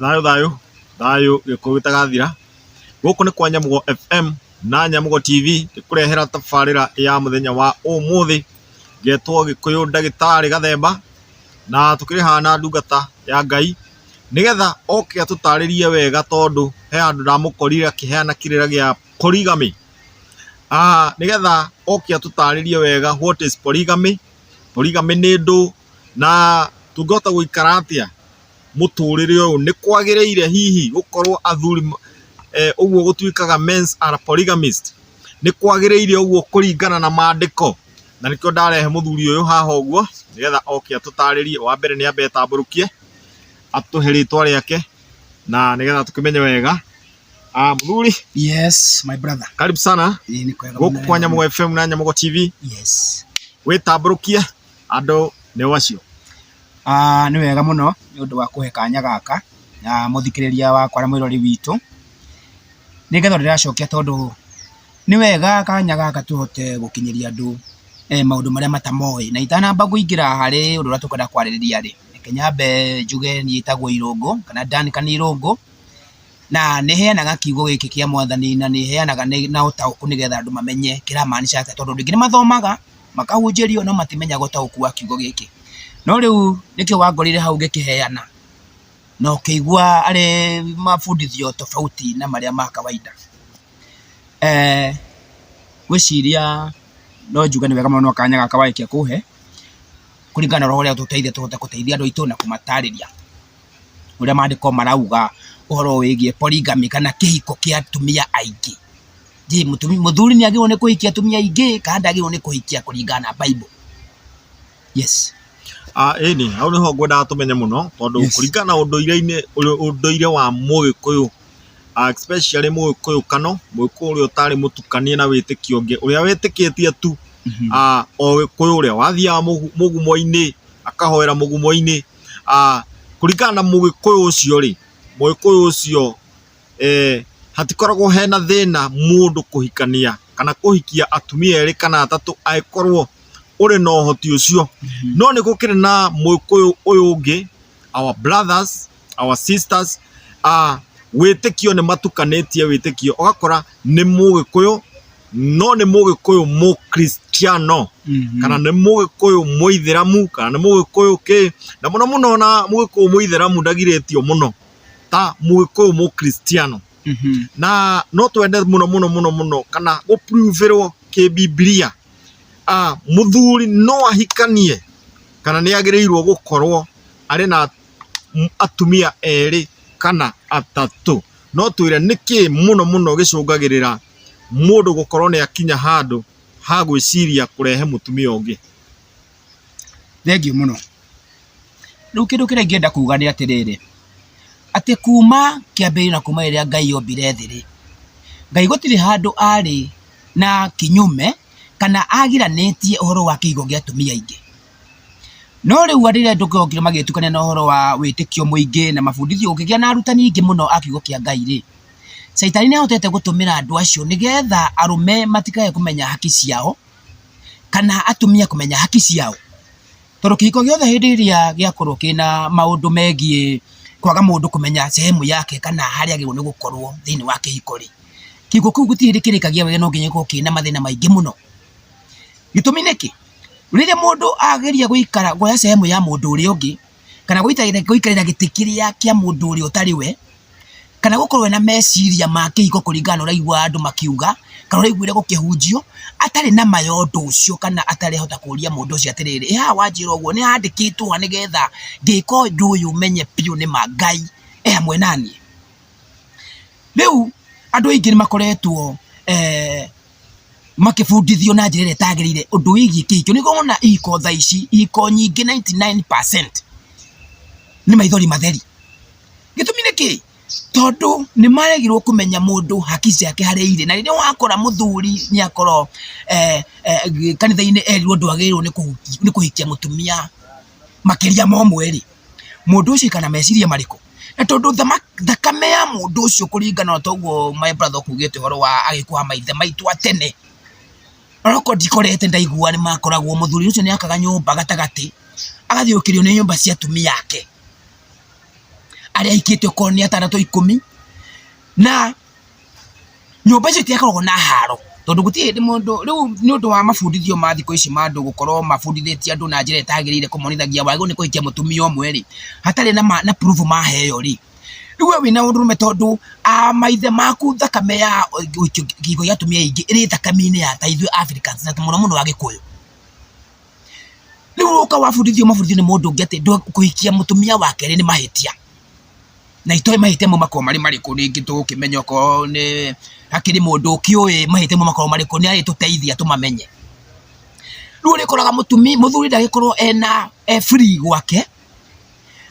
Thayũ thayũ thayũ gĩkuũ gĩtagathira, gũkũ nĩ kwa Nyamũgo FM na Nyamũgo TV ĩkũrehera tabarĩra ya mũthenya wa ũmũthĩ ngetwo Gĩkũyũ Ndagĩtarĩ Gathemba, na tũkĩrĩ haha na ndungata ya Ngai nĩgetha oke atũtarĩrie wega tondũ he handũ ndamũkorire akĩheana kĩrĩra gĩa polygamy. Nĩgetha oke atũtarĩrie wega what is polygamy, polygamy nĩ ndũ na tũngĩhota gũikara atĩa mũtũrĩre ũyũ nĩkwagĩrĩire hihi gũkorwo athuri ũguo gũtuĩkaga men are polygamist nĩkwagĩrĩire ũguo kũringana na mandĩko? Na nĩkĩo ndarehe mũthuri ũyũ haha ũguo nĩgetha oke atũtarĩrie, wa mbere nĩambe etambũrũkie atũhe rĩtwa rĩake na nĩgetha tũkĩmenye wega. Mũthuri? Yes my brother. Karibu sana gũkũ kwa Nyamũgo FM na Nyamũgo TV. Yes. Wĩtambũrũkie andũ nĩo acio. Nĩ wega mũno nĩ ũndũ wa kũhe kanya gaka mũthikĩrĩria wakwa na mwĩrori witũ, nĩ ngatho ndĩracokia tondũ nĩ wega kanya gaka tũhote gũkinyĩria andũ maũndũ marĩa matamoĩ. Na itanamba kũingĩra harĩ ũndũ ũrĩa tũkwenda kwarĩrĩria rĩ, reke nyambe njuge niĩ njĩtagwo Irũngũ kana Dan Kani Irũngũ. Na nĩheanaga kiugo gĩkĩ kĩa mwathani na nĩheanaga na ũtaũku nĩgetha andũ mamenye kĩramaanisha atĩa tondũ andũ aingĩ nĩmathomaga, makahunjĩrio no matimenyaga ũtaũku wa kiugo gĩkĩ. No rĩu nĩkĩo wangorire hau ngĩkĩheana na ũkĩigua arĩ mabundithio tofauti na marĩa ma kawaida. Ngwĩciria no njuge nĩ wega mũno nĩ kanya gaka warĩkia kũhe kũringana na ũrĩa ũgũteithia tũhote gũteithia andũ aitũ na kũmatarĩria. ũrĩa maandĩko marauga ũhoro wĩgiĩ polygamy kana kĩhiko kĩa atumia aingĩ. Je, mũtumi- mũthuri nĩ agĩrĩirwo nĩ kũhikia atumia aingĩ kana ndagĩrĩirwo nĩ kũhikia kũringana na Bible? Yes. Ah, ĩni hau nĩho ngwendaga tũmenye mũno tondũ Yes. kũringana na ũndũire-inĩ ũrĩ- ũndũire wa mũgĩkũyũ ah, especially mũgĩkũyũ kano mũgĩkũyũ ũrĩa ũtarĩ mũtukanie na wĩtĩkio ũngĩ ũrĩa wĩtĩkĩtie tu Mhm. ah, o gĩkũyũ ũrĩa wathiaga mũgu- mũgumo-inĩ akahoera mũgumo-inĩ Kũringana na mũgĩkũyũ ũcio rĩ, mũgĩkũyũ ũcio hatikoragwo hena thĩna mũndũ kũhikania kana kũhikia atumia erĩ kana atatũ angĩkorwo ũrĩ na ũhoti ũcio. No nĩ gũkĩrĩ na mũgĩkũyũ ũyũ ũngĩ our brothers, our sisters wĩtĩkio nĩ matukanĩtie wĩtĩkio ũgakora nĩ mũgĩkũyũ. no nĩ mũgĩkũyũ mũkristiano Mhm. kana nĩ mũgĩkũyũ mũithĩramu kana nĩ mũgĩkũyũ kĩ na mũno mũno na mũgĩkũyũ mũithĩramu ndagirĩtio mũno ta mũgĩkũyũ mũkristiano Mhm. na no twende mũno mũno mũno mũno kana gũpuruvĩrwo kĩbibilia ah, mũthuri no ahikanie kana nĩ agĩrĩirwo gũkorwo arĩ na m- atumia erĩ kana atatũ no twĩre nĩkĩ mũno mũno gĩcũngagĩrĩra mũndũ gũkorwo nĩ akinya handũ ha gwĩciria kũrehe mũtumia ũngĩ? Thengiũ mũno. Rĩu kĩndũ kĩrĩa ingĩenda kuga nĩ atĩrĩrĩ, atĩ kuma kĩambĩrĩria na kuma rĩrĩa Ngai ombire thĩ rĩ, Ngai gũtirĩ handũ arĩ na kinyume kana agiranĩtie ũhoro wa kĩhiiko gĩa atumia aingĩ. No rĩu andũ rĩrĩa okire magĩtukania na ũhoro wa wĩtĩkio mũingĩ na mabundithio, gũkĩgĩa na arutani aingĩ mũno a kiugo kĩa Ngai rĩ, caitani nĩ ahotete gũtũmĩra andũ acio nĩgetha arũme matikage kũmenya haki ciao, kana atumia kũmenya haki ciao. Tondũ kĩhiko gĩothe hĩndĩ ĩrĩa gĩakorwo kĩna maũndũ megiĩ kwaga mũndũ kũmenya sehemu yake kana harĩa agĩrĩirwo nĩ gũkorwo thĩinĩ wa kĩhiko rĩ, kĩhiko kĩu gũtirĩ hĩndĩ kĩrĩkagia wega no nginya gĩkorwo kĩna mathĩna maingĩ mũno. Gĩtũmi nĩkĩ? Rĩrĩa mũndũ ageria gũikara kuoya sehemu ya mũndũ ũrĩa ũngĩ, kana gũikarĩra gĩtĩ kĩrĩa kĩa mũndũ ũrĩa ũtarĩ we, kana gũkorwo ena meciria ma kĩhiko kũringana na ũrĩa aiguaga andũ makiuga, kana ũrĩa aiguire gũkĩhunjio, atarĩ na ma ya ũndũ ũcio kana atarehota kũria mũndũ ũcio atĩrĩrĩ, ĩ haha wanjĩra ũguo nĩ handĩkĩtwo ha nĩgetha ngĩka ũndũ ũyũ menye biũ nĩ ma Ngai e hamwe naniĩ? Rĩu andũ aingĩ nĩ makoretwo makĩbundithio na njĩra ĩrĩa ĩtagĩrĩire ũndũ wĩgiĩ kĩhiko nĩguo wona ihiko tha ici ihiko nyingĩ 99% nĩ maithori matheri gĩtũmi nĩ kĩ tondũ nĩ maregirwo kũmenya mũndũ haki ciake harĩa irĩ na rĩrĩa wakora mũthuri nĩ akorwo eh, eh, kanitha-inĩ erirwo ndwagĩrĩirwo nĩ kũhuki- nĩ kũhikia mũtumia makĩria ma ũmwe rĩ mũndũ ũcio kana meciria marĩkũ Na tondũ thakame ya mũndũ ũcio kũringana na ũguo my brother ũkugĩte ũhoro wa agĩkũha maithe maitũ a tene, onokorwo ndikorete ndaigua nĩ makoragwo, mũthuri ũcio nĩ akaga nyũmba gatagatĩ, agathiũrũrũkĩrio nĩ nyũmba cia atumia ake, arĩa aikĩtie okorwo nĩ atandatũ, ikũmi na... Nyũmba icio itiakoragwo na haro, tondũ gũtirĩ hĩndĩ mũndũ, rĩu nĩ ũndũ wa mabundithio ma thikũ ici ma andũ gũkorwo mabundithĩtie andũ na njĩra ĩtagĩrĩire kũmonithagia wagĩrĩirwo nĩ kũhikia mũtumia ũmwe rĩ, hatarĩ na proof maheo rĩ, rĩu we wĩna ũndũrũme tondũ a maithe maku thakame ya kĩhiko gĩa atumia aingĩ ĩrĩ thakame-inĩ ya ta ithuĩ Africans na mũno mũno Agĩkũyũ. Rĩu ũgoka wabundithio mabundithio nĩ mũndũ ũngĩ atĩ kũhikia mũtumia wa kerĩ nĩ mahĩtia. na itoe mahĩtia mau makoragwo marĩ marĩkũ rĩngĩ tũgũkĩmenya okorwo nĩ hakĩrĩ mũndũ ũkĩũĩ mahĩtia mau makoragwo marĩkũ nĩarĩtũteithia tũmamenye. Rĩu ũrĩkoraga mũtumia, mũthuri ndagĩkorwo ena e free gwake,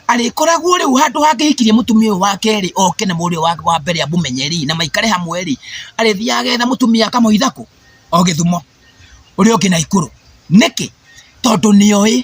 arĩkoragwo rĩu handũ hangĩhikirie mũtumia ũyũ wake rĩ, oke na mũrũ ũyũ wake wa mbere amũmenye rĩ, na maikare hamwe rĩ, arĩthiaga agetha mũtumia akamũhitha kũ? O Gĩthumo, ũrĩa ũngĩ Naikuru. Nĩkĩ? Tondũ nĩoĩ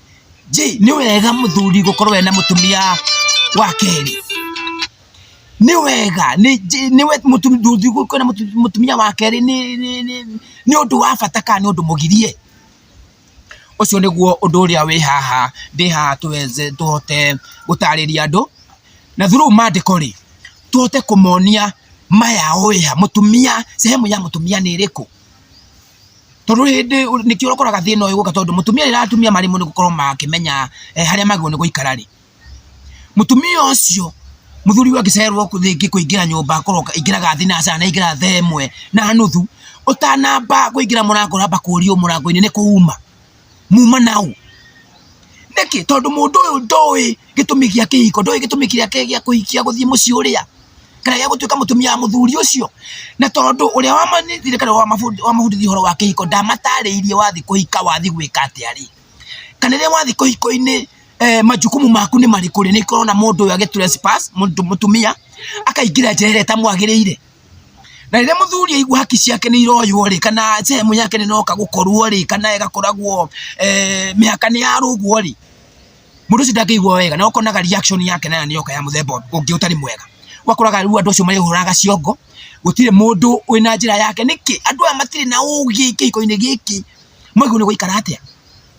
je nĩ wega mũthuri gũkorwo ena mũtumia wa kerĩ nĩ wega nĩ je- nĩ we- mũtu- ndũthi gũkorwo na mũtu- mũtumia wa kerĩ nĩ- nĩ- nĩ- nĩ ũndũ wa bata kana nĩ ũndũ mũgirie ũcio nĩguo ũndũ ũrĩa wĩ haha ndĩ haha tũweze tũhote gũtarĩria andũ na through mandĩko rĩ tũhote kũmonia maya oya mũtumia sehemu ya mũtumia nĩ ĩrĩkũ tondũ hĩndĩ nĩkĩo ũkoraga thĩna ũyũ ũgĩũka tondũ mũtumia rĩrĩa atumia marĩ mũno gũkorwo makĩmenya harĩa magĩrĩirwo nĩ gũikara rĩ, mũtumia ũcio mũthuri ũyũ angĩcererwo rĩngĩ kũingĩra nyũmba akorwo aingĩraga thinacara na aingĩra thaa ĩmwe na nuthu, ũtanamba kũingĩra mũrango ũramba kũrio mũrango-inĩ nĩ kũuma. muma nau nĩkĩ tondũ mũndũ ũyũ ndoĩ gĩtũmi gĩa kĩhiko ndoĩ gĩtũmi gĩake gĩa kũhikia gũthiĩ mũciĩ ũrĩa kana gĩa gũtuĩka mũtumia wa mũthuri ũcio na tondũ ũrĩa wamanyitire kana wamabundithia ũhoro wa kĩhiko ndamatarĩirie wathiĩ kũhika wathiĩ gwĩka atĩa rĩ kana rĩrĩa wathiĩ kũhiko-inĩ eh, majukumu maku nĩ marĩkũ rĩ nĩ korona mũndũ ũyũ agĩ trespass mũndũ- mũtumia akaingĩra njera ĩrĩa ĩtamwagĩrĩire na rĩrĩa mũthuri aigua haki ciake nĩ iroywo rĩ kana sehemu yake nĩ noka gũkorwo rĩ kana ĩgakoragwo eh, mĩhaka nĩ yarũgwo rĩ mũndũ ũcio ndangĩigua wega na ũkonaga reaction yake nayo nĩ yoka ya mũthemba ũngĩ ũtarĩ mwega ũgakoraga rĩu andũ acio marĩhũraga ciongo gũtirĩ mũndũ wĩna njĩra yake nĩkĩ andũ aya matirĩ na ũgĩ kĩhiko-inĩ gĩkĩ mwaigua nĩ gũikara atĩa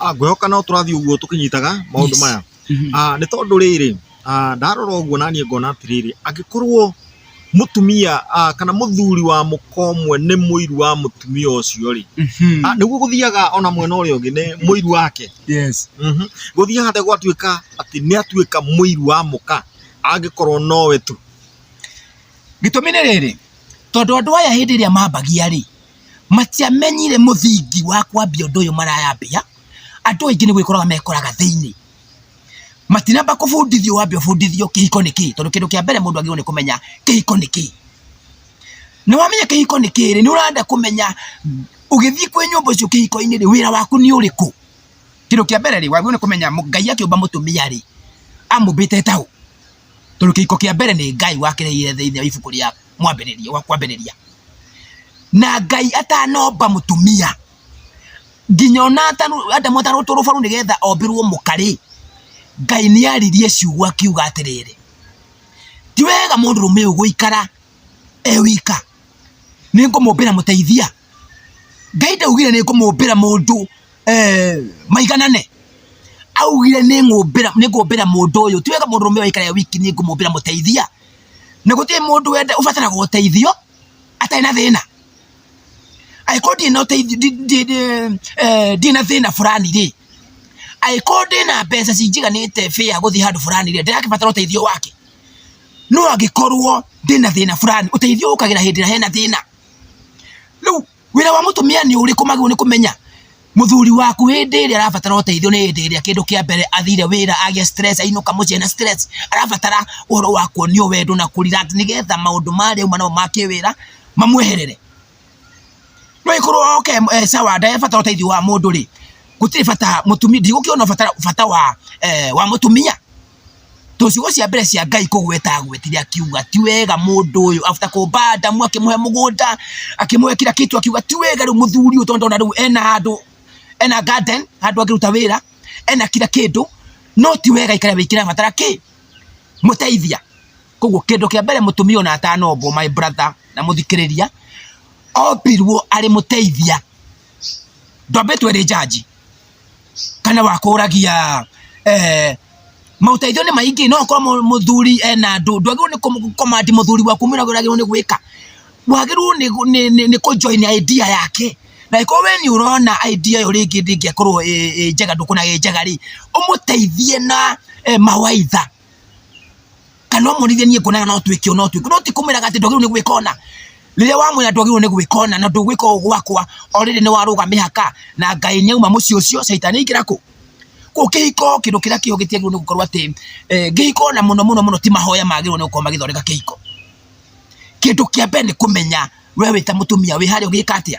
Ah, ngwĩhoka no tũrathiĩ ũguo tũkĩnyitaga maũndũ Yes. maya Mhm. Ah, nĩ tondũ rĩrĩ ah, ndarora ũguo naniĩ ngona atĩrĩrĩ angĩkorwo mũtumia ah, kana mũthuri wa mũkomwe nĩ mũiru wa mũtumia ũcio rĩ Mhm. Ah, nĩguo gũthiaga ona mwena ũrĩa ũngĩ nĩ mũiru wake Yes. Mhm. gũthiĩ handũ gwatuĩka atĩ nĩ atuĩka mũiru wa mũka angĩkorwo nowe tu gĩtũmi nĩ rĩrĩ tondũ andũ aya hĩndĩ ĩrĩa mambagia rĩ matiamenyire mũthingi wa kwambia ũndũ ũyũ marayambia, andũ aingĩ nĩ gwĩkoraga mekoraga thĩinĩ, matinamba kũbundithio wambe ũbundithio kĩhiko nĩ kĩĩ, tondũ kĩndũ kĩa mbere mũndũ agĩrĩirwo nĩ kũmenya kĩhiko nĩ kĩĩ, na wamenya kĩhiko nĩ kĩĩ rĩ, nĩ ũrenda kũmenya ũgĩthiĩ kwĩ nyũmba ũcio kĩhiko-inĩ rĩ, wĩra waku nĩ ũrĩkũ, kĩndũ kĩa mbere rĩ, wagĩrĩirwo nĩ kũmenya Ngai akĩũmba mũtumia rĩ, amũmbĩte eta ũ, tondũ kĩhiko kĩa mbere nĩ Ngai wakĩreheire thĩinĩ wa ibuku rĩa. mwambĩrĩria wa kwambĩrĩria na ngai atanomba mũtumia nginya ona adamu atarutwo rũbaru nĩgetha ombĩrwo mũkarĩ ngai nĩ aririe ciugo akiuga atĩrĩrĩ ti wega mũndũ rũme ũyũ gũikara e wika nĩ ngũmũmbĩra mũteithia ngai ndaugire nĩ ngũmũmbĩra mũndũ eh, maiganane augire nĩ ngũmbĩra nĩ ngũmbĩra mũndũ ũyũ ti wega mũndũ rũme ũyũ aikare e wiki nĩ ngũmũmbĩra mũteithia na gũtirĩ mũndũ wenda ũbataraga ũteithio atarĩ na thĩna angĩkorwo ndirĩ na ũteithio ndi- ndi- ndi- eh, ndirĩ na thĩna fulani rĩ angĩkorwo ndĩ na mbeca cinjiganĩte bĩa gũthiĩ handũ fulani rĩ ndĩrakĩbatara ũteithio wake no angĩkorwo ndĩ na thĩna fulani ũteithio ũkagĩra hĩndĩ ĩrĩa hena thĩna rĩu wĩra wa mũtumia nĩ ũrĩkũ magĩrĩirwo nĩ kũmenya mũthuri waku hĩndĩ ĩrĩa arabatara ũteithio nĩ hĩndĩ ĩrĩa kĩndũ kĩa mbere athire wĩra agĩa stress ainũka mũciĩ na stress arabatara ũhoro wa kuonio wendo na kũrira nĩgetha maũndũ marĩa uma namo ma kĩwĩra mamweherere no ĩkorwo oke eh, sawa ndarebatara ũteithio wa mũndũ rĩ gũtirĩ bata mũtumia ndigũkĩona bata bata wa eh, wa mũtumia to ciugo cia mbere cia ngai kũgweta agwetire akiuga ti wega mũndũ ũyũ after kũmba adamu akĩmũhe mũgũnda akĩmũhe kira kitu akiuga ti wega rĩu mũthuri ũyũ tondũ ndona rĩu ena handũ ena garden handũ angĩruta wĩra ena kira kĩndũ no ti wega ikare wĩkĩra batara kĩ mũteithia koguo kĩndũ kĩa mbere mũtumia ona atanombwo my brother na mũthikĩrĩria ombirwo arĩ mũteithia ndwambĩtwo ĩrĩ njanji kana wakũragia eh, maũteithio nĩ maingĩ no kwa mũthuri ena andũ ndwagĩrĩirwo nĩ kũm- command mũthuri waku mwĩra ũrĩa agĩrĩirwo nĩ gwĩka wagĩrĩirwo nĩ gũ- nĩ- nĩ- nĩ kũjoin idea yake na ĩkorwo we nĩ ũrona idea ĩyo rĩngĩ ndĩngĩakorwo ĩ- ĩ njega ndũkuona ĩ njega rĩ ũmũteithie na eh, mawaitha kana ũmũrithie niĩ kuonaga no twĩke ũũ no twĩke no ti kũmwĩraga atĩ ndwagĩrĩirwo nĩ gwĩka ũna rĩrĩa wamwĩra ndwagĩrĩirwo nĩ gwĩka ũna na ndũgwĩka ũũ gwakwa already nĩ warũga mĩhaka na ngai nĩ auma mũciĩ ũcio caitani aingĩra kũ kũu kĩhiko kĩndũ kĩrĩa kĩho gĩtiagĩrĩirwo nĩ gũkorwo atĩ eh, kĩhiko na mũno mũno mũno ti mahoya magĩrĩirwo nĩ gũkorwo magĩthondeka kĩhiko kĩndũ kĩa mbere nĩ kũmenya we wĩ ta mũtumia wĩ harĩa ũgĩka atĩa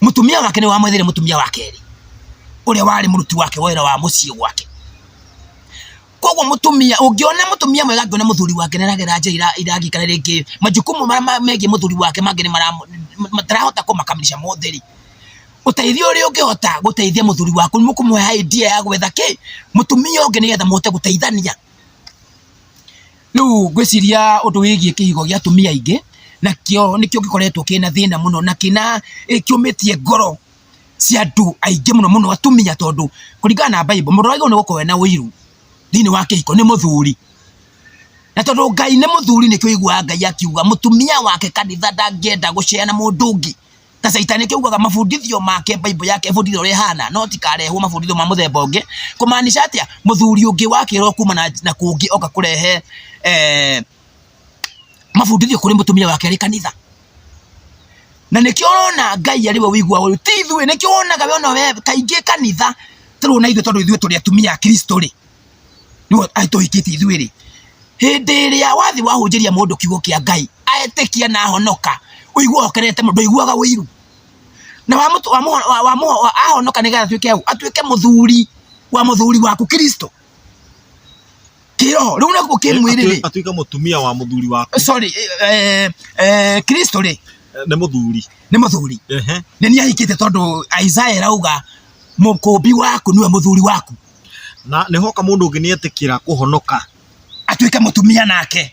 mutumia wake nä wamwethire mutumia wa kerä å rä a warä må ruti wake wa wä ra wa må ciä gwake koguo mutumia ungiona mutumia mwega angiona muthuri wake niragera njira ira- irangi kana ringi majukumu maria ma- megiĩ muthuri wake mangĩ nĩ mara- matarahota kũmakamilisha mothe rĩ uteithio ũrĩa ũngĩhota gũteithia muthuri waku nĩ mũkũmũhe idea ya gwetha kĩ mutumia ũngĩ nĩgetha mũhote gũteithania Rĩu ngwĩciria ũndũ wĩgiĩ kĩhigo gĩa atumia aingĩ, nakĩo nĩkĩo gĩkoretwo kĩna thĩna mũno na kĩna kĩũmĩtie ngoro cia andũ aingĩ mũno mũno atumia tondũ kũringana na Bible mũndũ ũrĩa wagĩrĩirwo nĩ gũkorwo ena ũiru thĩinĩ wa kĩhiko nĩ mũthuri. Na tondũ Ngai nĩ mũthuri nĩkĩo ũiguaga Ngai akiuga mũtumia wake kanitha ndangĩenda gũcera na mũndũ ũngĩ. ta caitani kiugaga mabundithio make bible yake ibundithio uria hana no tikarehwo mabundithio ma muthemba ungi kumaanisha atia muthuri ungi wakirwo kuma na, na kungi oka kurehe eh, mabundithio kuri mutumia wake ari kanitha na nikio urona ngai ari we wigua uyu ti ithuĩ nikio wonaga we ona we kaingĩ kanitha tũrĩ na ithuĩ tondũ ithuĩ tũrĩ atumia a kristo rĩ nĩguo aitũhikĩtie ithuĩ rĩ hĩndĩ ĩrĩa wathi wahunjĩria mũndũ kiugo kĩa ngai aetĩkia na ahonoka ũigua okerete mũndũ iguaga ũiru na wa mũtu wa mũho- wa- wa mũho- wa- ahonoka nĩgetha atuĩke hau atuĩke mũthuri wa mũthuri waku kristo kĩroho rĩu nakuo kĩmwĩrĩ rĩ atuĩke mũtumia wa mũthuri waku sorry eh, eh, kristo rĩ nĩ mũthuri nĩ mũthuri Ehe. nĩ niĩ ahikĩte tondũ isaya ĩrauga mũkũmbi waku nĩwe mũthuri waku na nĩhoka mũndũ ũngĩ nĩetĩkĩra kũhonoka atuĩke mũtumia nake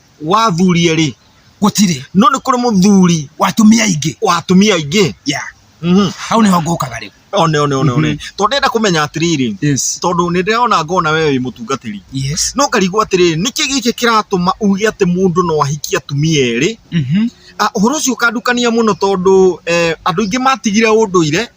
wa athuri erĩ gũtirĩ no nĩ kũrĩ mũthuri wa atumia aingĩ wa atumia aingĩ yeah. Mhm. hau nĩho ngũkaga rĩu one one one one tondũ ndĩrenda kũmenya atĩrĩrĩ yes. tondũ nĩ ndĩrona ngona we wĩ mũtungatĩri yes. no ngarigwo atĩrĩrĩ nĩkĩ gĩkĩ kĩratũma uge atĩ mũndũ no ahikie atumia erĩ Mhm. ũhoro ũcio ũkandukania mũno tondũ eh, andũ aingĩ matigire ũndũire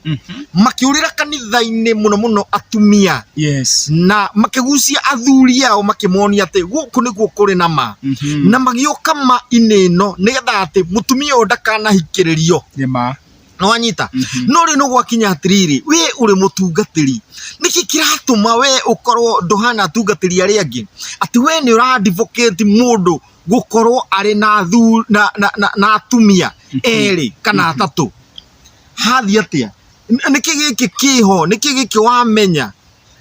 makĩũrĩra kanitha-inĩ mũno mũno atumia yes na makĩgucia athuri ao makĩmonia atĩ gũkũ nĩguo kũrĩ na ma Mhm. na magĩũka ma inĩ ĩno nĩgetha atĩ mũtumia ũyũ ndakanahikĩrĩrio nĩ ma nĩwanyita Mhm. no rĩu nĩgwakinya atĩrĩrĩ we ũrĩ mũtungatĩri nĩkĩ kĩratũma we ũkorwo ndũhana atungatĩri arĩa angĩ atĩ we nĩ ũra advocate mũndũ gũkorwo arĩ na thu na, na, na, na atumia erĩ kana atatũ hathiĩ atĩa N- nĩkĩ gĩkĩ kĩho nĩkĩ gĩkĩ wamenya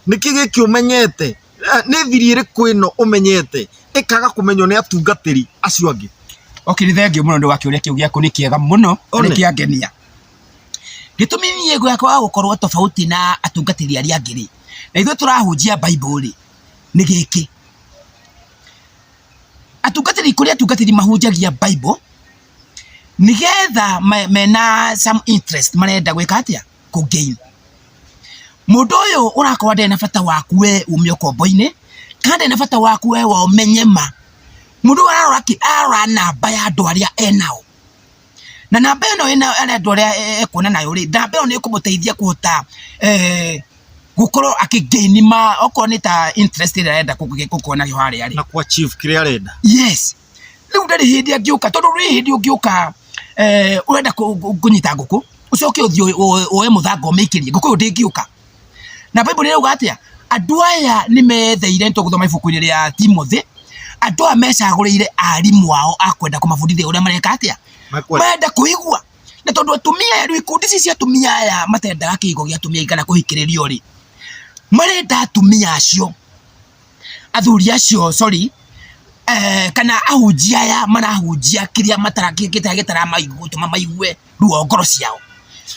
nĩkĩ gĩkĩ ũmenyete Eh, nĩ thiri ĩrĩkũ ĩno ũmenyete ĩkaga kũmenywo nĩ atungatĩri acio angĩ okay nĩ thengiũ mũno nĩ wakĩũria kĩu gĩaku nĩ kĩega mũno na nĩ One. kĩangenia gĩtũmi niĩ gwakwa wa gũkorwo tofauti na atungatĩri arĩa angĩ rĩ na ithuĩ tũrahunjia bible rĩ nĩ gĩkĩ atungatĩri kũrĩ atungatĩri mahunjagia Bible nĩgetha mena some interest marenda gwĩka atĩa kũ gain mũndũ ũyũ ũrakorwo ndarĩ na bata waku we ume ũkombo-inĩ kana ndarĩ na bata waku we wa ũmenye ma mũndũ ũyũ ararora kĩ ararora namba ya andũ arĩa enao. na namba ĩno arendwo ũrĩa ekuona nayo rĩ namba ĩyo nĩ ĩkũmũteithia kũhota gũkorwo akĩgaini ma okorwo nĩ ta interest ĩrĩa arenda gũkorwo nayo harĩa rĩ na kwa chief kĩrĩa arenda yes rĩu ndarĩ hĩndĩ angĩũka tondũ rĩ hĩndĩ ũngĩũka urenda kũnyita ngũkũ ucoke uthio uoe muthanga umikirie ngũkũ ĩyo ndĩngĩũka na bible ĩrauga atĩa andũ aya nĩ meyetheire tũgũthoma ibuku-inĩ rĩa timothĩ andũ aya mecagũrĩire arimũ ao a kwenda kũmabundithia ũrĩa mareka atĩa Makwenda. marenda kũigua na tondũ atumia aya rĩu ikundi ici cia atumia aya matendaga kĩhigo gĩa atumia kana kũhikĩrĩrio rĩ marenda atumia acio athuri acio sorry eh, kana ahunjia aya marahunjia kĩrĩa matara- kĩ- gĩtara- gĩtaramaigua gũtũma maigue ruo ngoro ciao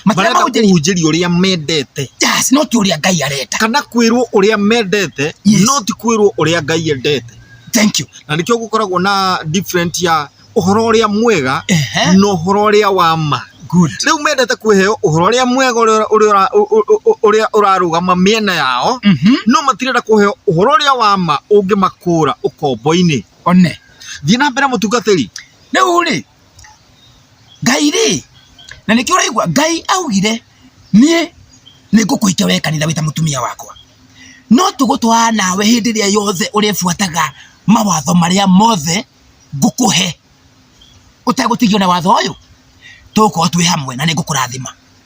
matirenda marenda kũhunjĩrio kũhunjĩrio ũrĩa mendete yes no ti ũrĩa ngai arenda kana kwĩrwo ũrĩa mendete Yes. no ti kwĩrwo ũrĩa ngai endete thank you na nĩkĩo gũkoragwo na different ya ũhoro ũrĩa mwega Ehe. na ũhoro ũrĩa wa ma good rĩu mendete kwĩheo ũhoro ũrĩa mwega ũrĩa- ũrĩa ũra- ũ- ũ- ũ- ũrĩa ũrarũgama mĩena yao mhm no matirenda kũheo ũhoro ũrĩa wa ma ũngĩmakũra ũkombo-inĩ one thiĩ na mbere mũtungatĩri rĩu rĩ ngai rĩ na nĩkĩo ũraigua ngai augire niĩ nĩngũkũhikia we kanitha wĩta mũtumia wakwa no tũgũtwara nawe hĩndĩ ĩrĩa yothe ũrĩbuataga mawatho marĩa mothe ngũkũhe ũtegũtigio na watho ũyũ tũgũkorwo twĩ hamwe na nĩngũkũrathima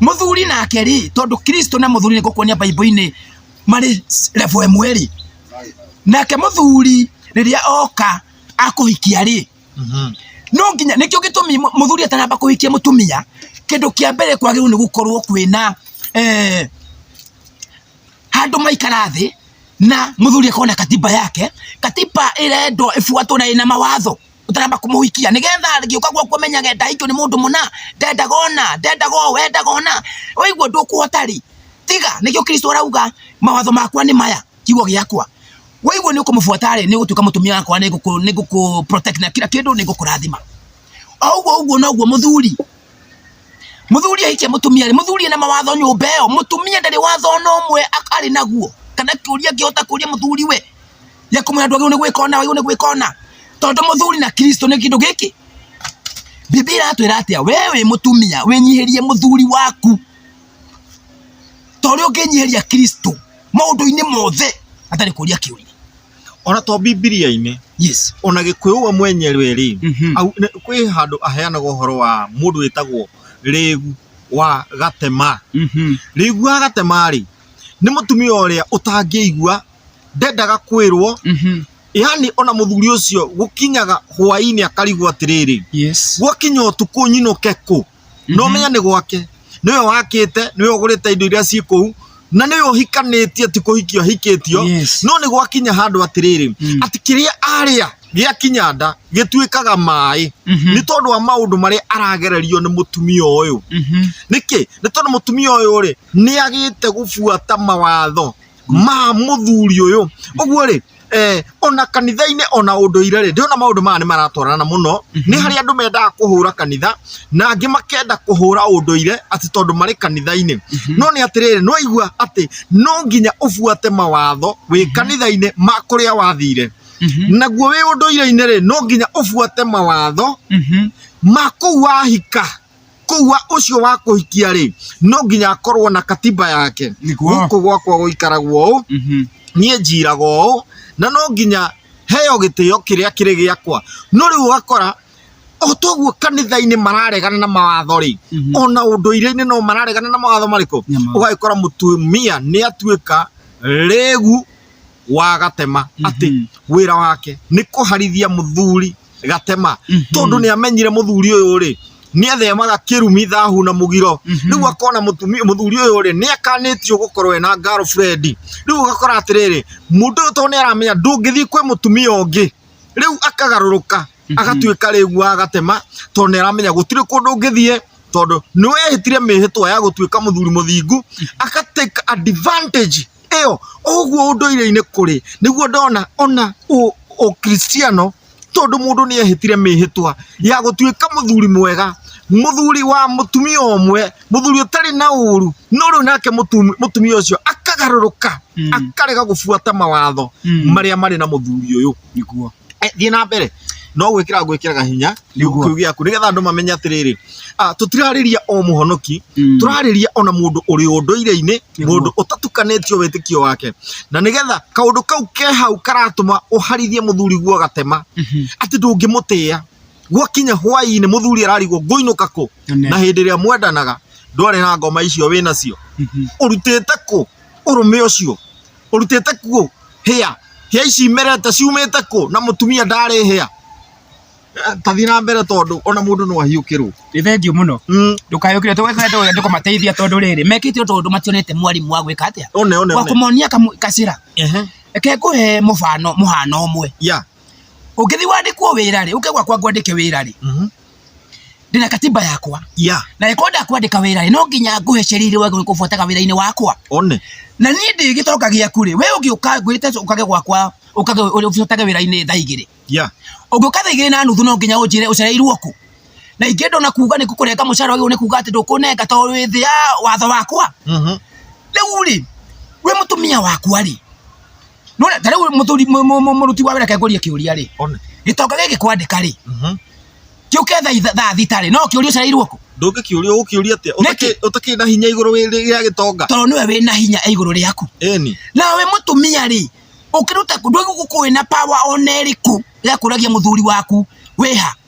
muthuri nake ri tondu kristo na muthuri nigukuonia baibuli-ini mari levo ĩmwe ri nake muthuri riria oka akuhikia ri no nginya nikio gitumi mu- muthuri atanamba kuhikia mutumia kindu kia mbere kwagirwo ni gukorwo kwina eh, handu maikara thi na muthuri akona katiba yake katiba irendwo ifuatwo na ina mawatho utaramba kumuhikia nigetha ngiuka gwa kumenyage ndaikio ni mundu muna ndendaga ona ndendaga o wendaga ona oigua ndukuhota ri tiga nikio kristo arauga mawatho makwa ni maya kiugo giakwa waigua ni ukumubuata ri ni gutuika mutumia wakwa ni guku ni guku protect na kila kindu ni gukurathima oguo oguo noguo muthuri muthuri ahikia mutumia ri muthuri ena mawatho nyumba iyo mutumia ndari watho ona umwe ak- ari naguo kana kiuria ngihota kuria muthuri we ya kumwira andu ni gwika ona wagirwo ni gwika ona tondu muthuri na kristo ni kindu giki bibi iratwira atia we wi mutumia winyihirie muthuri waku tori unginyihiria kristo maundu-ini mothe atari kuria kiuria ona to bibilia-inĩ yes ona gĩkũyũ we mwenyewe rĩ Mhm. au- nĩ- kwĩ handũ aheanaga ũhoro wa mũndũ wĩtagwo rĩgu wa gatema Mhm. rĩgu wa gatema rĩ nĩ mũtumia ũrĩa ũtangĩigua ndendaga kwĩrwo Mhm. yani ona mũthuri ũcio gũkinyaga hwaĩ-inĩ akarigwo atĩrĩrĩ Yes. gwakinya ũtukũ nyinũke kũ no Mhm. menya nĩ gwake nĩwe wakĩte nĩwe ũgũrĩte indo iria ciĩ kũu na nĩwe ũhikanĩtie ti kũhikio ahikĩtio Yes. no nĩ gwakinya handũ atĩrĩrĩ Mm. atĩ kĩrĩa arĩa gĩakinya nda gĩtuĩkaga maĩ Mhm. nĩ tondũ wa maũndũ marĩa aragererio nĩ mũtumia ũyũ Mhm. nĩkĩ nĩ tondũ mũtumia ũyũ rĩ nĩ agĩte gũbuata mawatho ma mũthuri ũyũ ũguo rĩ eh, ona kanitha-inĩ ona ũndũ-ire rĩ ndĩrona maũndũ maya nĩ maratwarana mũno nĩ harĩ andũ mendaga kũhũra kanitha na angĩ makenda kũhũra ũndũ-ire atĩ tondũ marĩ kanitha-inĩ no nĩ atĩrĩrĩ nĩ waigua atĩ no nginya ũbuate mawatho wĩ kanitha-inĩ ma kũrĩa wathire naguo wĩ ũndũ-ire-inĩ rĩ no nginya ũbuate mawatho ma kũu wahika Koguo ũcio wa kũhikia rĩ, no nginya akorwo na katiba yake. Nĩguo. Gũkũ gwakwa gũikaragwo ũũ, Mhm. niĩ njiraga ũũ, na no nginya heo gĩtĩo kĩrĩa kĩrĩ gĩakwa. No rĩu ũgakora o toguo kanitha-inĩ mararegana na mawatho rĩ, Mhm. ona ũndũire-inĩ no mararegana na mawatho marĩkũ? Na mawatho. Ũgagĩkora mũtumia nĩ atuĩka rĩgu wa gatema atĩ Mhm. wĩra wake nĩ kũharithia mũthuri gatema tondu ni amenyire muthuri uyu ri ni athemaga kirumi thahu na mugiro riu akona mutumia muthuri uyu ri ni akanitio gukorwo ena girlfriend riu ugakora atiriri mundu uyu tondu ni aramenya ndungithii kwi mutumia ungi riu akagaruruka agatuika riu wa gatema tondu ni aramenya gutiri kundu ungithie tondu ni wehitire mihitwa ya gutuika muthuri muthingu agatake advantage ĩyo ũguo ũndũire-inĩ kũrĩ nĩguo ndona ona ũkristiano tondũ mũndũ nĩ ehĩtire mĩhĩtwa ya gũtuĩka mũthuri mwega, mũthuri wa mũtumia ũmwe, mũthuri ũtarĩ na ũru, no rĩu nake mũtumia ũcio akagarũrũka akarega gũbuata mawatho marĩa marĩ na mũthuri ũyũ. nĩguo Eh, thiĩ na mbere no gwĩkĩra ngwĩkĩraga hinya Nĩguo. kiugo gĩaku nĩgetha andũ mamenye atĩrĩrĩ ah, tũtirarĩria o mũhonoki Mm. tũrarĩria ona mũndũ ũrĩ ũndũire-inĩ Nĩguo. mũndũ ũtatukanĩtio wĩtĩkio wake na nĩgetha kaũndũ kau ke hau karatũma ũharithie mũthuri guo gatema Mhm. atĩ ndũngĩmũtĩa gwakinya hwaĩ-inĩ mũthuri ararigwo ngũinũka kũ Amen. na hĩndĩ ĩrĩa mwendanaga ndwarĩ na ngoma icio wĩ nacio Mhm. ũrutĩte kũ ũrũme ũcio Ũrutĩte kuũ hĩa? Hĩa ici imerete ciumĩte kũ na mũtumia ndarĩ hĩa? Eh, Tathiĩ na mbere tondũ ona mũndũ no ahiũkĩrwo. nĩ thengiũ mũno Mm, ndũkayũkĩre tũgwetwo andũ kũmateithia tondũ rĩrĩ mekĩte ũndũ ũndũ mationete mwarimũ wa gwĩka atĩa One one wa one. kũmonia kamũ- gacĩra Ehe. reke ngũhe mũbano mũhano ũmwe Ya. ũngĩthiĩ wandĩkwo wĩra rĩ ũke gwakwa ngwandĩke wĩra rĩ Mhm. ndina katiba yakwa ya na ĩkorwo ndakwandĩka wĩra-rĩ no nginya ngũhe sheria iria wagĩrĩirwo kũbuataga wĩra-inĩ wakwa one na niĩ ndĩ gĩtonga gĩaku rĩ we ũngĩũka ngwĩte ũkage gwakwa ũkage ũbuatage wĩra-inĩ thaa igĩrĩ ya ũngĩũka thaa igĩrĩ na nuthu no nginya ũnjĩre ũcereirwo kũ na ingĩ ndona kuga nĩ kũrenga mũcara ũyũ nĩ kuga atĩ ndũkũnenga tondũ wĩ thĩ ya watho wakwa mhm rĩu rĩ we mũtumia wakwa rĩ none ta rĩu mũthuri mũ- mũ- mũ- mũruti wa wĩra kengũrie kĩũria rĩ Ona. gĩtonga gĩkĩ kwandĩka rĩ Mhm. kĩũke tha- thaa thita rĩ no kĩũria ũcareirwo kũ ndũngĩkĩũria ũkĩũria atĩa Nĩkĩ? Ũtakĩ- ũtakĩrĩ na hinya igũrũ wĩ- rĩa gĩtonga tondũ nĩwe wĩ na hinya e igũrũ rĩaku eni nawe mũtumia rĩ ũkĩruta ndũgũkũĩ na pawa ona ĩrĩkũ ya kũragia mũthuri waku wĩha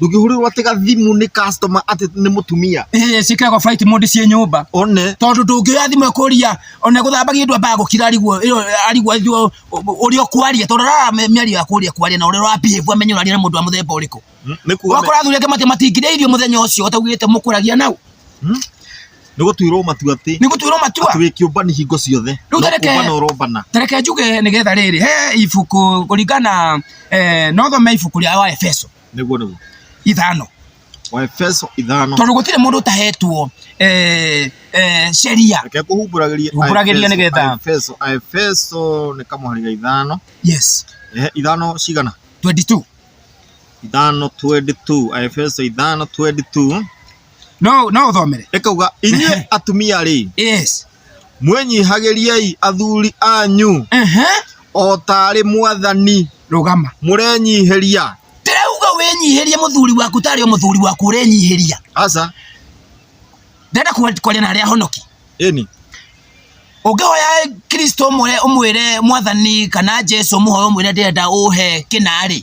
ndũngĩhũrĩrwo atĩ gathimu nĩ customer atĩ nĩ mũtumia Eh, ciĩkĩragwo flight mode ciĩ nyũmba one tondũ ndũngĩoya thimũ ĩkũria ona gũthambagia ndwa mbaa gũkira arigwo ĩyo arigwo ĩyo ũrĩa ũkwaria tondũ rara mĩario ya kũria kwaria na ũrĩa ũrabihĩvu amenye ũraria na mũndũ wa mũthemba ũrĩkũ nĩ kuga wakora athuri angĩ mati matingĩrĩa irio mũthenya ũcio ũtaugĩte mũkũragia nau nĩ gũtuĩrwo matua atĩ nĩ gũtuĩrwo matua atĩ wĩ kĩũmbani hingo ciothe rĩu tareke ũrombana tareke njuge nĩ getha rĩrĩ he ibuku kũringana eh, no thome ibuku rĩa wa Efeso nĩguo nĩguo ithano wa Efeso ithano tondũ gũtirĩ mũndũ ũtahetwo eh, eh, sheria reke kũhumbũragĩria Humbũragĩria nĩgetha. Efeso Efeso nĩ kamũhari ithano yes eh, ithano cigana 22 ithano 22 Efeso ithano 22 no no thomere ĩkauga inyuĩ atumia rĩ yes mwĩnyihagĩriei athuri anyu ehe o tarĩ mwathani rugama mũrenyihĩria ndirauga wĩnyihĩrie mũthuri waku tarĩ o mũthuri waku ũrenyihĩria aca ndenda kwa- kwaria na arĩa ahonoki ĩni ũngĩhoya kristo ũmwĩre ũmwĩre mwathani kana jesu mũhoya ũmwĩre ndĩrenda ũhe kĩnarĩ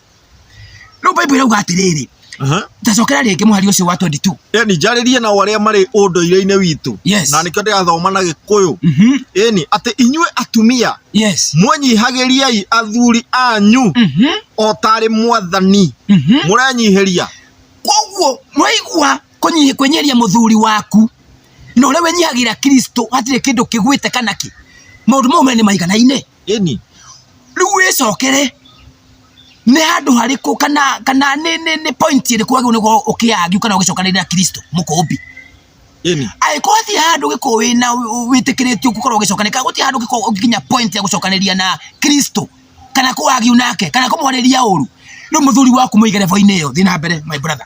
rĩu bible irauga atĩrĩrĩ Aha. tacokera rĩngĩ mũhari ũcio wa 22 ĩni njarĩrie na arĩa marĩ ũndũire-inĩ witũ Yes. na nĩkĩo ndĩrathoma na gĩkũyũ Mhm. ĩni atĩ inyuĩ atumia yes mũnyihagĩriai athuri anyu Mhm. o tarĩ mwathani Mhm. mũrenyihĩria koguo mwaigua kũnyi- kwenyeria mũthuri waku na ũrĩa wenyihagira kristo hatirĩ kĩndũ kĩgwĩte kana kĩ maũndũ mau me nĩ maiganaine ĩni rĩu wĩcokere nĩ handũ harĩkũ kana kana nĩ nĩ nĩ point ĩrĩkũ agĩrĩirwo nĩ gũkorwo ũkĩargue kana ũgĩcokanĩrĩra Kristo mũkũmbi ĩni angĩkorwo hatirĩ handũ ũngĩkorwo wĩna wĩtĩkĩrĩtio gũkorwo ũgĩcokanĩrĩria kana gũtirĩ handũ ũngĩkorwo ũngĩkinya point ya gũcokanĩrĩria na Kristo kana kũargue nake kana kũmwarĩria ũru rĩu mũthuri waku mũige level-inĩ ĩyo thiĩ na mbere my brother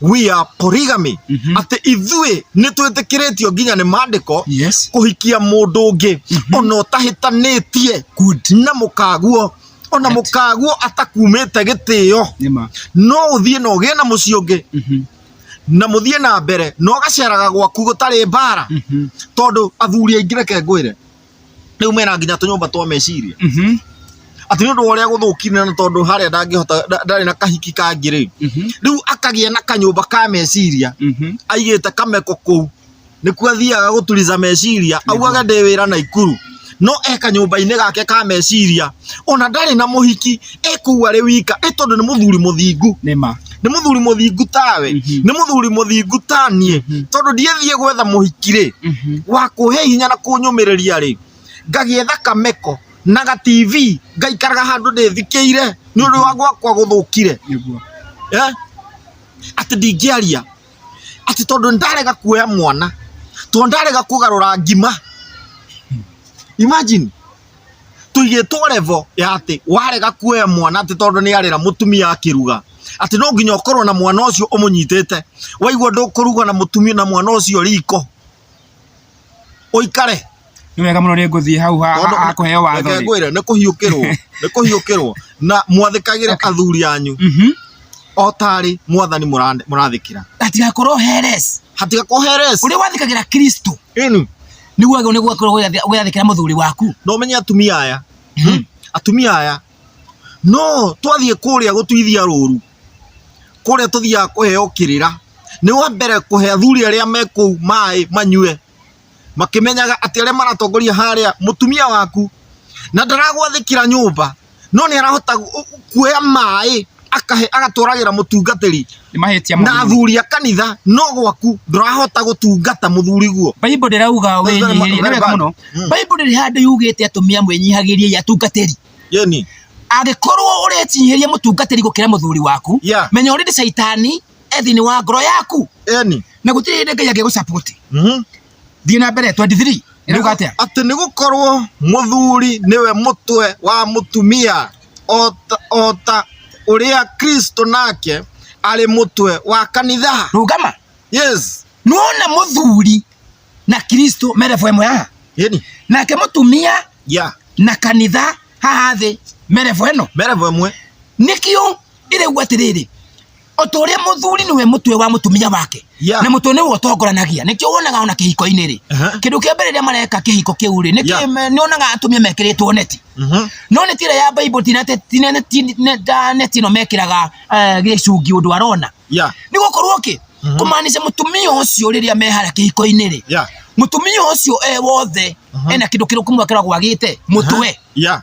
we are polygamy Mhm. atĩ ithuĩ nĩ twĩtĩkĩrĩtio nginya nĩ mandĩko yes kũhikia mũndũ ũngĩ ona ũtahĩtanĩtie good na mũkaguo ona Right. mũkaguo atakumĩte gĩtĩo nima no ũthiĩ na ũgĩe na mũciĩ ũngĩ Mhm. na mũthiĩ na mbere na ũgaceraga gwaku gũtarĩ mbara Mhm. tondũ athuri aingĩ reke ngwĩre rĩu mena nginya tũnyũmba twa meciria Mhm. atĩ nĩ ũndũ wa ũrĩa gũthũkire na tondũ harĩa ndangĩhota nda- ndarĩ na kahiki kangĩ rĩ Mhm. rĩu akagĩa na kanyũmba ka meciria Mhm. aigĩte kameko kũu nĩkuo athiaga gũturiza meciria augaga ndĩ wĩra na ikuru no e kanyũmba-inĩ gake ka meciria ona ndarĩ na mũhiki ekuua arĩ wika ĩ tondũ nĩ mũthuri mũthingu nĩ ma nĩ mũthuri mũthingu tawe Mhm. nĩ mũthuri mũthingu ta niĩ Mhm. tondũ ndiathiĩ gwetha mũhiki rĩ Mhm. wa kũhe hinya na kũnyũmĩrĩria rĩ ngagĩetha kameko na ga tv ngaikaraga handũ ndĩthikĩire nĩ ũndũ wa gwakwa gũthũkire nĩguo eh? atĩ ndingĩaria atĩ tondũ ndarega kuoya mwana tondũ ndarega kũgarũra ngima imagine tũigĩtwo level ya atĩ warega kuoya mwana atĩ tondũ nĩ arera mũtumia akĩruga atĩ no nginya ũkorwo na mwana ũcio ũmũnyitĩte waigua ndũkũruga na mũtumia na mwana ũcio riko ũikare nĩ wega mũno nĩ ngũthiĩ hau ha- Tondũ- ha- hakũheo watho Reke rĩ. ngwĩre nĩ kũhiũkĩrwo nĩ kũhiũkĩrwo na mwathĩkagĩre Okay. athuri anyu Mhm. o tarĩ mwathani mũra- mũrathĩkĩra hatigakorwo heres hatigakoheres ũrĩa wathĩkagĩra kristo ĩni nĩguo agĩrĩirwo nĩ gũkorwo ũgĩathĩ- ũgĩathĩkĩra mũthuri waku na ũmenye atumia aya hmm? atumia aya no twathiĩ kũrĩa gũtuithia rũru kũrĩa tũthiaga kũheo kĩrĩra nĩ wa mbere kũhe athuri arĩa me kũu maĩ manyue makĩmenyaga atĩ arĩa maratongoria harĩa mũtumia waku na ndaragwathĩkĩra nyũmba no nĩ arahota kuoya maĩ akahe agatwaragĩra mũtungatĩri nĩ mahĩtia na mũno athuri a kanitha no gwaku ndũrahota gũtungata mũthuri guo Bible ndĩrauga Very bad, wĩnyihĩrie nĩ very wega bad. mũno Mm. Bible ndĩrĩ handũ yugĩte atumia mwĩnyihagĩriei atungatĩri yeni angĩkorwo ũretinyihĩria mũtungatĩri gũkĩra mũthuri waku Yeah. menya ũrĩndĩ caitani e thĩinĩ wa ngoro yaku yeni na gũtirĩ hĩndĩ ngai angĩgũcapoti Mhm. thiĩ na mbere 23 ĩrauga atĩa atĩ nĩ gũkorwo mũthuri nĩwe mũtwe wa mũtumia o ta- o ta ũrĩa kristo nake arĩ mũtwe wa kanitha rũgama yes nuona mũthuri na kristo me level ĩmwe haha yeni nake mũtumia ya na kanitha haha thĩ me level ĩno merevo ĩmwe nĩkĩo ĩrĩu atĩrĩrĩ o ta ũrĩa mũthuri nĩwe mũtwe wa mũtumia wake Yeah. na mũtwe nĩwe ũtongoranagia nĩkĩo wonaga ona kĩhiko-inĩ rĩ Aha. kĩndũ kĩa mbere rĩrĩa mareka kĩhiko kĩu rĩ nĩkĩo Yeah. me- nĩonaga atumia mekĩrĩtwo neti Mhm. no neti ĩrĩa ya bible ti nete- ti nene- ti ne- ta neti ĩno mekĩraga eh, gĩcungi ũndũ arona Yeah. nĩ gũkorwo kĩ Mhm. kũmaanisha mũtumia ũcio rĩrĩa mehara kĩhiko-inĩ rĩ Yeah. mũtumia ũcio e wothe Mhm. ena kĩndũ kĩrũku mwakĩra gwagĩte mũtwe Yeah.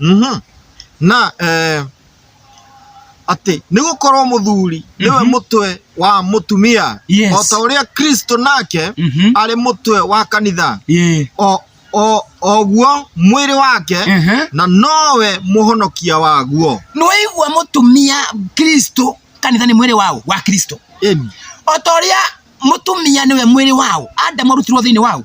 Mhm. na eh, atĩ nĩ gũkorwo mũthuri nĩwe Mhm. mũtwe wa mũtumia Yes. o ta ũrĩa kristo nake Mhm. arĩ mũtwe wa kanitha Yeah. o o- oguo mwĩrĩ wake Mhm. na nowe mũhonokia waguo nĩwaigua mũtumia kristo kanitha nĩ mwĩrĩ wao wa kristo Ĩni. o ta ũrĩa mũtumia nĩwe mwĩrĩ wao adamu arutirwo thĩinĩ wao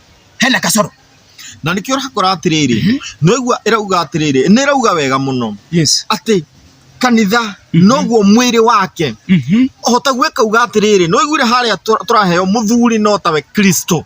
hena kasoro na nĩkĩo ũrakora atĩrĩrĩ mm -hmm. nĩgua ĩrauga atĩrĩrĩ nĩrauga wega mũno yes. atĩ kanitha mm -hmm. noguo mwĩrĩ wake mm -hmm. ohota gwĩka uga atĩrĩrĩ noiguire harĩa tũraheo mũthuri no tawe kristo